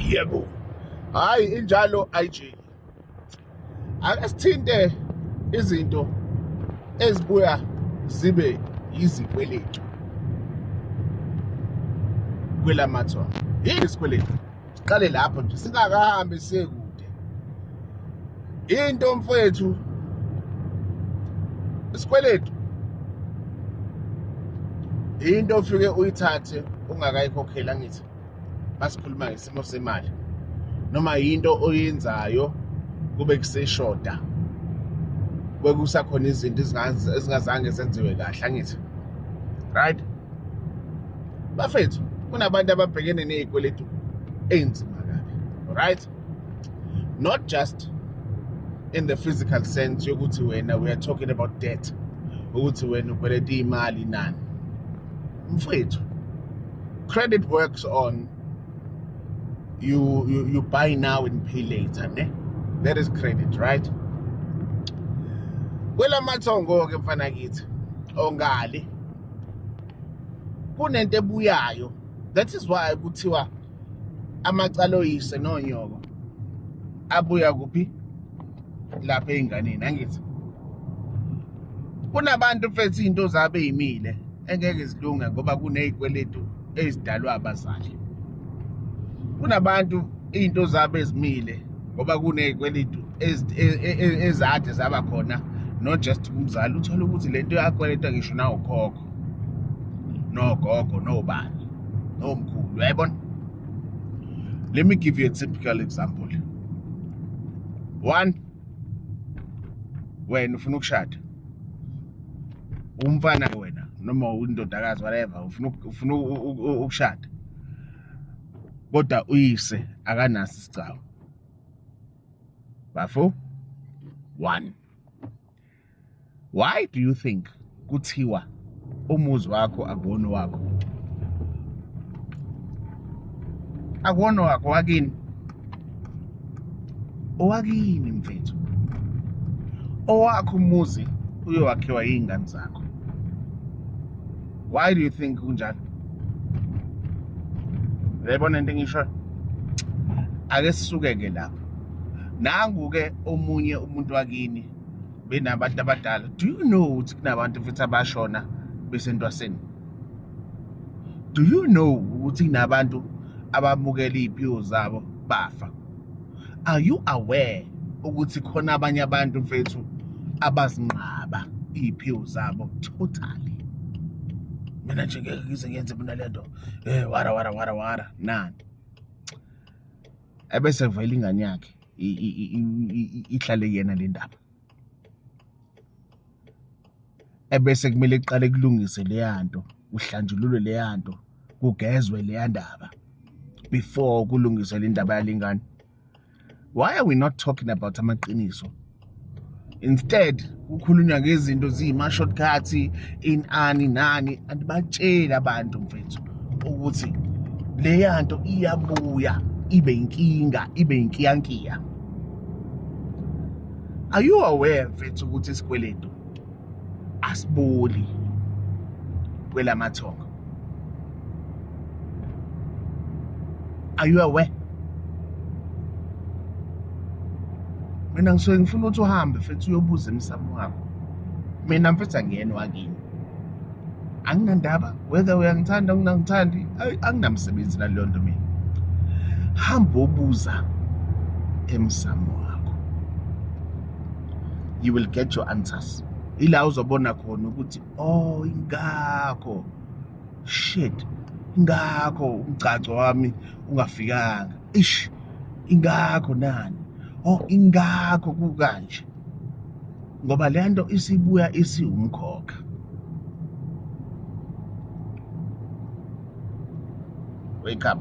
yebo hayi injalo ayijiki ake sithinte izinto ezibuya zibe yizikweletu kwelamathwa yini isikweletu siqale lapho nje singakahambi siye kude into mfethu isikweletu into ofike uyithathe ungakayikhokheli angithi basikhuluma ngesimo semali noma yinto oyenzayo kube kuseshoda kwekusakhona izinto ezingazange zenziwe kahle angithi right bafethu kunabantu ababhekene nezikweletu ezinzima kabi right not just in the physical sense yokuthi wena we are talking about debt ukuthi wena ukweleta imali nani mfethu credit works on you, you, you buy now and pay later ne that is credit right kwelamathongo-ke mfana kithi ongali kunento ebuyayo that is why kuthiwa amacala oyise nonyoko abuya kuphi lapha ey'nganeni angithi kunabantu mfethu iy'nto zabo ey'mile engeke zilunge ngoba kuney'kweletu ezidalwa abazali kunabantu iy'nto zabo ezimile ngoba kuney'kweletu e, e, ezade zaba khona not just kumzali uthole ukuthi le nto yakweletwa ngisho nawukhokho nogogo nogogo nobani nomkhulu uyayibona let me give you a typical example one wena ufuna ukushada umfana wena noma undodakazi whatever ufuna ufuna ukushada kodwa uyise akanaso isicawu bafo one why do you think kuthiwa umuzi wakho akuwona wakho akuwona wakho wakini owakini mfethu owakho umuzi uyowakhiwa yingane zakho why do you think kunjalo uyayibona into engisho ake sisuke-ke lapho nangu-ke omunye umuntu wakini benabantu abadala do you know ukuthi kunabantu futhi abashona besentwaseni do you know ukuthi kunabantu abamukela iy'phiwo zabo bafa are you aware ukuthi khona abanye abantu mfethu abazinqaba iy'phiwo zabo totally mina nje ngeke ngize ngenze mina le nto um wara wara wara wara nani ebese vele ingane yakhe ihlale yena le ndaba ebese kumele kuqale kulungise leya nto kuhlanjululwe leya nto kugezwe leya ndaba before kulungiswe le ndaba yalengane why are we not talking about amaqiniso instead kukhulunywa ngezinto ziyima-shortcut inani nani andibatsheli abantu mfethu ukuthi leya nto iyabuya ibe inkinga ibe inkiyankiya are you aware mfethu ukuthi isikweletu asiboli kwelamathongo are you aware mina ngisuke ngifuna ukuthi uhambe futhi uyobuza emsamo wakho mina mfethu angiyena wakini anginandaba whether uyangithanda ungangithandi anginamsebenzi naleyo nto mina hamba obuza emsamo you will get your answers ila uzobona khona ukuthi oh ingakho shit ingakho umgcagco wami ungafikanga ish ingakho nani oh ingakho kukanje ngoba le nto isibuya isiwumkhokha wake up